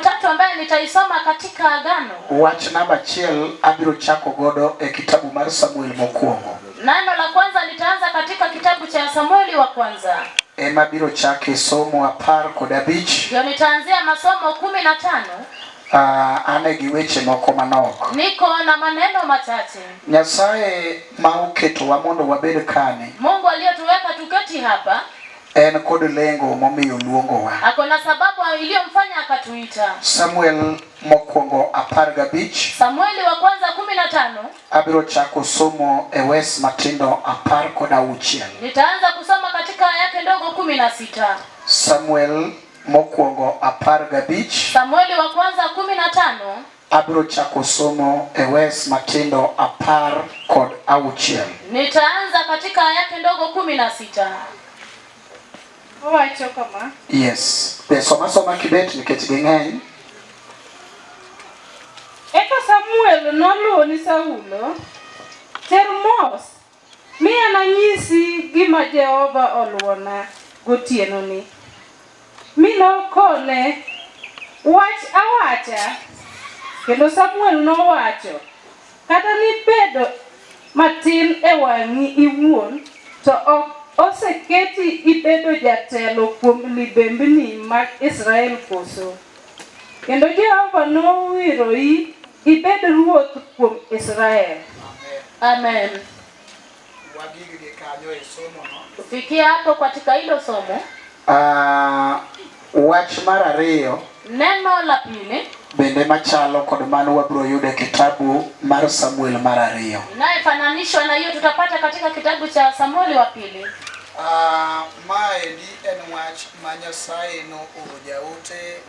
tatu ambaye nitaisoma katika Agano. Wach namba achiel abiro chako godo e kitabu mar Samuel mokwongo. Neno la kwanza nitaanza katika kitabu cha Samueli wa kwanza. Ema biro chake somo apar kod abich. Ndio nitaanzia masomo kumi na tano. Uh, ah, ane gi weche moko manok. Niko na maneno machache. Nyasaye ma oketowa mondo wabed kani. Mungu aliyetuweka tuketi hapa. En kod lengo momiyo luongowa. Ako na sababu iliyomfanya akatuita. Samuel mokwongo apar gabich. Samueli wa kwanza kumi na tano. Abiro chako somo e wes matindo apar kod auchiel. Nitaanza kusoma katika yake ndogo kumi na sita. Samuel mokwongo apar gabich. Samueli wa kwanza kumi na tano. Abiro chako somo e wes matindo apar kod auchiel. Nitaanza katika ayati ndogo kumi na sita. Owacho kama. Yes. Be soma soma kibet nikech ging'eny. Eka Samuel noluwo ni Saulo, Termos Mi ananyisi gima Jehova oluwona gotienoni. Mi nokone, Wach awacha. Kendo Samuel nowacho, Kata nibed matin e wang'i iwuon, to ok oseketi ibedo jatelo kuom libembni mag Israel koso? Kendo Jehova nowiroi. Ibed ruoth kuom Israel. Amen. Tufikie hapo katika hilo somo. Uh, wach mar ariyo neno la pili bende machalo kod mano wabiro yudo e kitabu mar Samuel mar ariyo inayefananishwa na hiyo tutapata katika kitabu cha Samueli wa pili. Uh, maendi en wach ma Nyasaye nooro jaote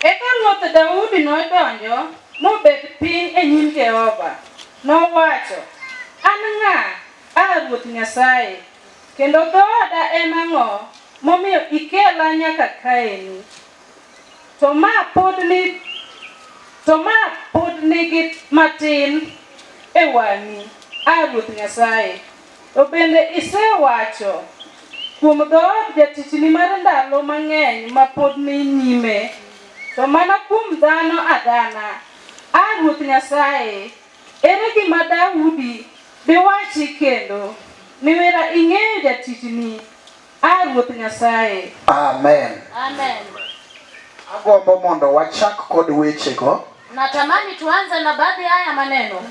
Eka Ruoth Daudi nodonjo mobet piny e nyim Jehova. Nowacho, An ng'a, A Ruoth Nyasaye, kendo dhooda en ang'o momiyo ikela nyaka kaeni? To ma pod ni to ma pod nigi matin e wang'i, A Ruoth Nyasaye. To bende isewacho kuom dhood jatichni mar ndalo mang'eny ma pod ni nyime, to mana kuom dhano adhana, A Ruoth Nyasaye, ere gima Daudi diwachi kendo? Niwera ing'eyo jatichni, A Ruoth Nyasaye. Amen. Amen. Agombo mondo wachak kod wechego. Natamani tuanze na baadhi haya maneno.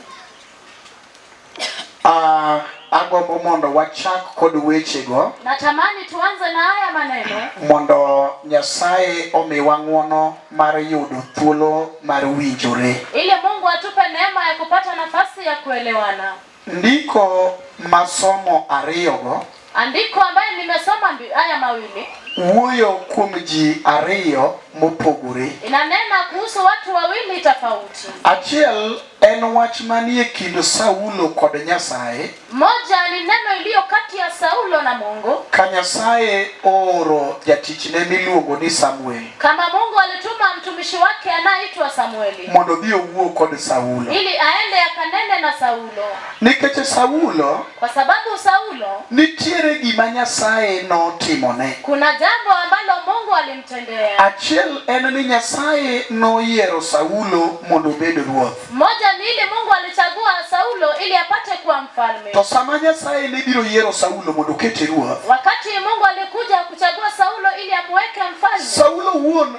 Uh, agombo mondo wachak kod wechego. Natamani tuanze na haya maneno. Mondo Nyasaye omiwa ng'wono mar yudo thuolo mar winjore. Ili Mungu atupe neema ya kupata nafasi ya kuelewana. Ndiko masomo ariyogo. Andiko ambayo nimesoma ndi- haya mawili wuoyo kuom ji ariyo mopogore. inanena kuhusu watu wawili tofauti. Achiel en wach manie kind Saulo kod Nyasaye, Moja ni neno iliyo kati ya Saulo na Mungu, ka Nyasaye ooro jatichne miluongo ni Samuel kama Mungu alituma mtumishi wake anayeitwa Samueli mondo odhi owuo kod Saulo. ili aende akanene na Saulo. Nikech Saulo Kwa sababu Saulo nitiere gima Nyasaye notimone. Kuna jambo ambalo Mungu alimtendea. Achiel en ni Nyasaye noyiero Saulo mondo obed ruoth. Moja ni ile Mungu alichagua Saulo ili apate kuwa mfalme. To sama Nyasaye ne biro yiero Saulo mondo okete ruoth. Wakati Mungu alikuja kuchagua Saulo ili amweke mfalme. Saulo wuon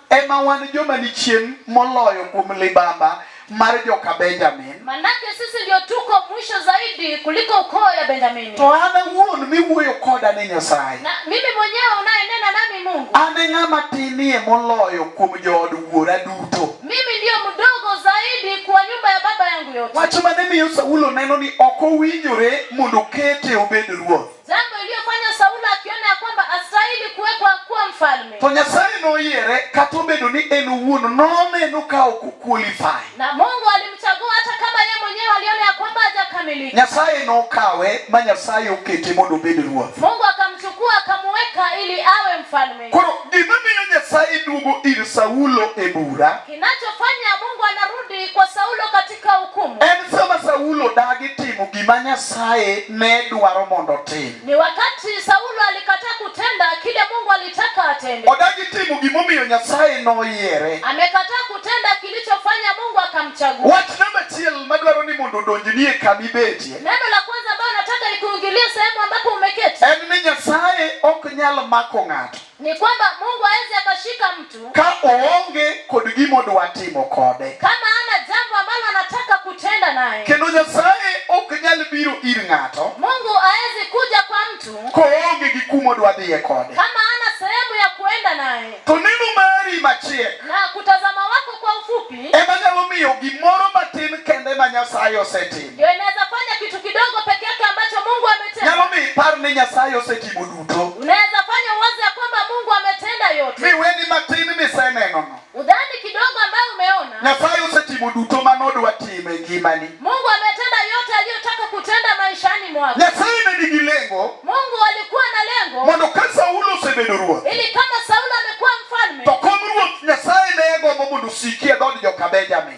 ema wan joma ni chien moloyo kuom libamba mar joka Benjamin. Manake sisi ndio tuko mwisho zaidi kuliko ukoo ya Benjamini. To an awuon miwuoyo koda ni Nyasaye. Na mimi mwenyewe unayenena nami Mungu. An e ng'ama tinie moloyo kuom jood wuora duto. Mimi ndio mdogo zaidi kwa nyumba ya baba yangu yote. Wach mane miyo Saulo neno ni ok owinjore mondo kete obed ruoth. Jambo iliyofanya Saulo akiona ya kwamba astahili kuwekwa kuwa mfalme. To Nyasaye noyiere kata obedo ni en owuon noneno ka ok oqualify. Na Mungu alimchagua hata kama yeye mwenyewe aliona ya kwamba hajakamilika. Nyasaye nokawe ma Nyasaye okete mondo obed ruoth. Mungu akamchukua akamuweka ili awe mfalme. Koro gima miyo Nyasaye duogo ir Saulo e bura. Kinachofanya Mungu anarudi kwa Saulo katika Ka ukumu. En sama Saulo dagi timo gima Nyasaye ne dwaro mondo otim. Ni wakati Saulo alikataa kutenda kile Mungu alitaka atende. Odagi timo gimomiyo Nyasaye noyiere. Amekataa kutenda kilichofanya Mungu akamchagua. Wach namba achiel madwaro ni mondo odonji nie kama ibetie. Neno la kwanza ambayo nataka ikuingilie sehemu ambapo umeketi. En ni Nyasaye ok nyal mako ng'ato. ni kwamba Mungu hawezi akashika mtu ka oonge kod gima odwa timo kode, kama ana jambo ambalo anataka kutenda naye. Kendo Nyasaye ok nyal biro ir ng'ato, Mungu hawezi kuja kwa mtu koonge gi kuma odwa dhiye kode, kama ana sehemu ya kuenda naye. To neno mari machiek, na kutazama wako kwa ufupi, ema nyalo miyo gimoro matin kende ma Nyasaye osetimo, ndio inaweza fanya kitu kidogo peke yake ambacho Mungu ametenda, nyalo miyo ipar ni Nyasaye osetimo duto. Unaweza fanya uwazi ya kwamba Mungu ametenda yote. Mi weni matini misenenono. Udhani kidogo ambayo umeona. Nyasaye usetimo duto mane odwa timo e ngimani. Mungu ametenda yote aliyotaka kutenda maishani mwako. Nyasaye ne nigi lengo. Mungu alikuwa na lengo. Mondo ka Saulo osebedo ruoth. Ili kama Saulo amekuwa mfalme. To kom ruoth Nyasaye ne gombo mondo osikie dhood joka Benjamin.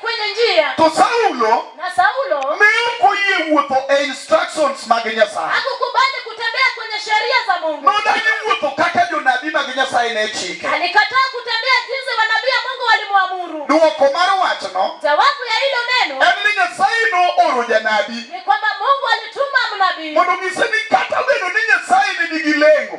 kwenye njia to saulo na saulo ne ok oyie wuotho e instructions mag nyasaye hakukubali kutembea kwenye sheria za mungu nodagi wuotho kaka jonabi mag nyasaye ne chike alikataa kutembea jinsi wanabii wa mungu walimwamuru dwoko mar wachno jawabu ya hilo neno en ni nyasaye nooro janabi ni kwamba mungu alituma mnabii mondo onyise ni kata bedo ni nyasaye ne nigi lengo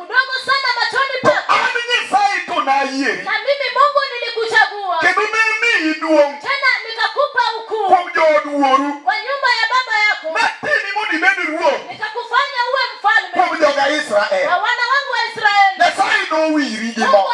mdogo sana machoni pako, an Nyasaye to nayieri, na mimi Mungu nilikuchagua, kendo ne miyi duong', tena nikakupa ukuu kuom jood wuoru, kwa nyumba ya baba yako, natimi mondo ibed ruoth nikakufanya uwe mfalme kuom joga Israel. kwa wana wangu wa Israeli. Nyasaye nowiri gi Mungu mo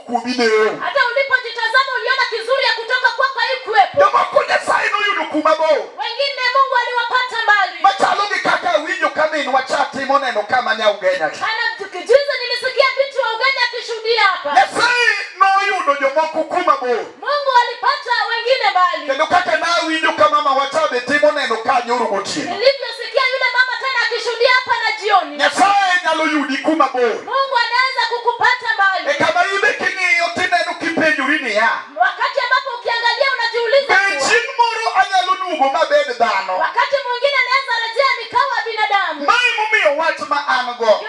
kubineyo hata ulipojitazama uliona kizuri ya kutoka kwako haikuwepo jomoko nyasaye noyudo kuma bo wengine mungu aliwapata mbali machalo gi kaka winjo ka minwa cha timo neno kama nya ugenya kana juzi nilisikia binti wa ugenya akishuhudia hapa nyasaye noyudo jomoko kuma bo Mungu alipata wengine bali. Kendo kaka na winjo ka mama watabe timo neno ka nyoro gotieno. Nilivyosikia yule mama tena akishuhudia hapa na jioni. Nyasaye nyalo yudi kuma bor. Mungu anaweza kukupata mbali. E kama ibe king'iyo tineno kipenjori niya. Wakati ambapo ukiangalia unajiuliza. Be chieng' moro anyalo duogo mabed dhano. Wakati mwingine naweza rejea nikawa binadamu. Mae momiyo wach ma an go.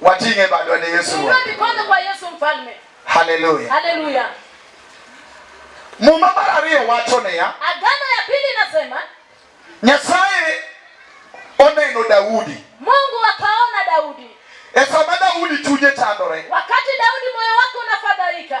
wating'e badwa ne Yesu. Haleluya, haleluya. Muma mar ariyo wacho niya, agano ya pili inasema Nyasaye oneno Daudi. Mungu akaona Daudi. E sama Daudi chunye chandore. Wakati Daudi moyo wake unafadhaika.